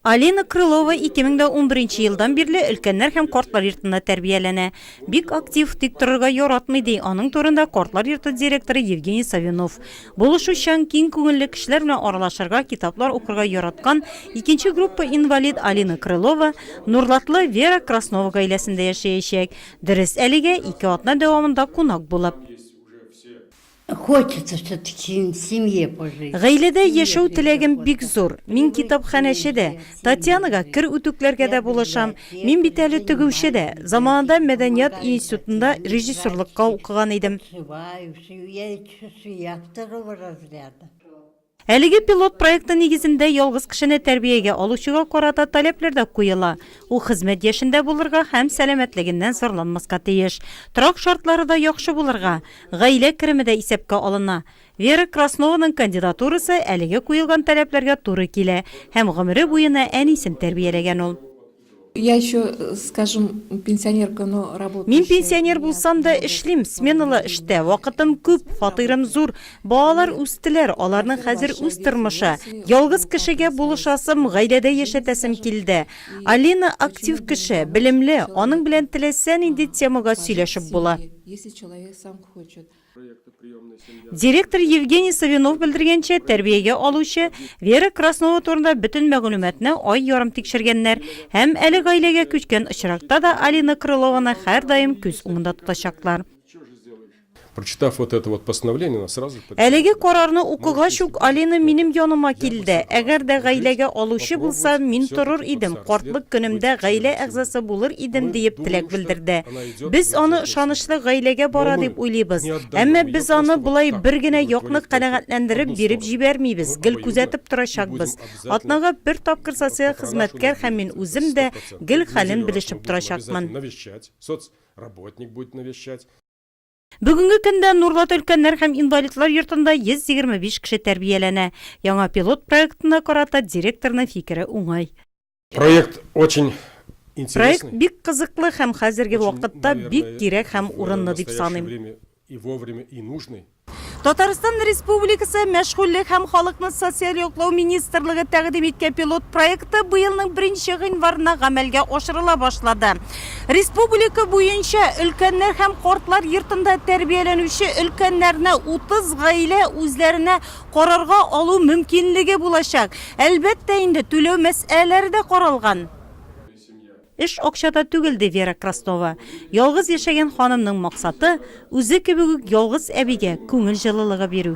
Алина Крылова 2011 елдан бирле өлкәннәр һәм картлар йортында тәрбияләнә. Бик актив, тик торырга яратмый, ди аның турында картлар йорты директоры Евгений Савинов. Булышучан, киң күңелле кешеләр белән аралашырга, китаплар укырга яраткан икенче группа инвалид Алина Крылова Нурлатлы Вера Краснова гаиләсендә яшәячәк. Дөрес, әлегә ике атна дәвамында кунак булып. Гаиләдә яшәү теләгем бик зур. Мин китапханәче дә, Татьянага кер үтүкләргә дә булышам. Мин бит әле тегүче дә. Заманында мәдәният институтында режиссерлыкка укыган идем. Әлеге пилот проекты нигезендә ялгыз кешене тәрбиягә алучыга карата таләпләр дә куела. Ул хезмәт яшендә булырга һәм сәламәтлегеннән зарланмаска тиеш. Торак шартлары да яхшы булырга, гаилә кереме дә исәпкә алына. Вера Краснованың кандидатурасы әлеге куелган таләпләргә туры килә һәм гомере буена әнисен тәрбияләгән ул. Я еще, скажем, пенсионерка, но работающая. Мин пенсионер булсам да эшлим, сменалы эштә, вакытым күп, фатирым зур, балалар үстеләр, аларның хәзер үз тормышы. Ялгыз кешегә булышасым, гаиләдә яшәтәсем килде. Алина актив кеше, белемле, аның белән теләсә нинди темага сөйләшеп була. Если человек сам хочет. Директор Евгений Савинов белдергәнчә, тәрбиягә алучы Вера Краснова турында бөтен мәгълүматны ай ярым тикшергәннәр һәм әле гаиләгә күчкән очракта да Алина Крылованы һәрдаим күз уңында тотачаклар. Прочитав вот это вот постановление, она сразу же... Әлеге карарны укыгач ук, Алина минем яныма килде. Әгәр дә гаиләгә алучы булса, мин торыр идем, картлык көнемдә гаилә әгъзасы булыр идем, диеп теләк белдерде. Без аны ышанычлы гаиләгә бара дип уйлыйбыз. Әмма без аны болай бер генә якны канәгатьләндереп биреп җибәрмибез, гел күзәтеп торачакбыз. Атнага бер тапкыр социаль хезмәткәр һәм мин үзем дә гел хәлен белешеп торачакмын. Бүгенге көндә Нурлат өлкәннәр һәм инвалидлар йортында 125 кеше тәрбияләнә. Яңа пилот проектына карата директорның фикере уңай. Проект очень Проект бик кызыклы һәм хәзерге вакытта бик кирәк һәм урынлы дип саныйм. Татарстан Республикасы мәшгульлек һәм халыкны социаль яклау министрлыгы тәкъдим иткән пилот проекты быелның 1 гыйнварына гамәлгә ашырыла башлады. Республика буенча өлкәннәр һәм кортлар йортында тәрбияләнүче өлкәннәрне 30 гаилә үзләренә карарга алу мөмкинлеге булачак. Әлбәттә инде, түләү мәсьәләләре дә каралган. Эш акчада түгел, ди Вера Краснова. Ялгыз яшәгән ханымның максаты, үзе кебек үк ялгыз әбигә күңел җылылыгы бирү.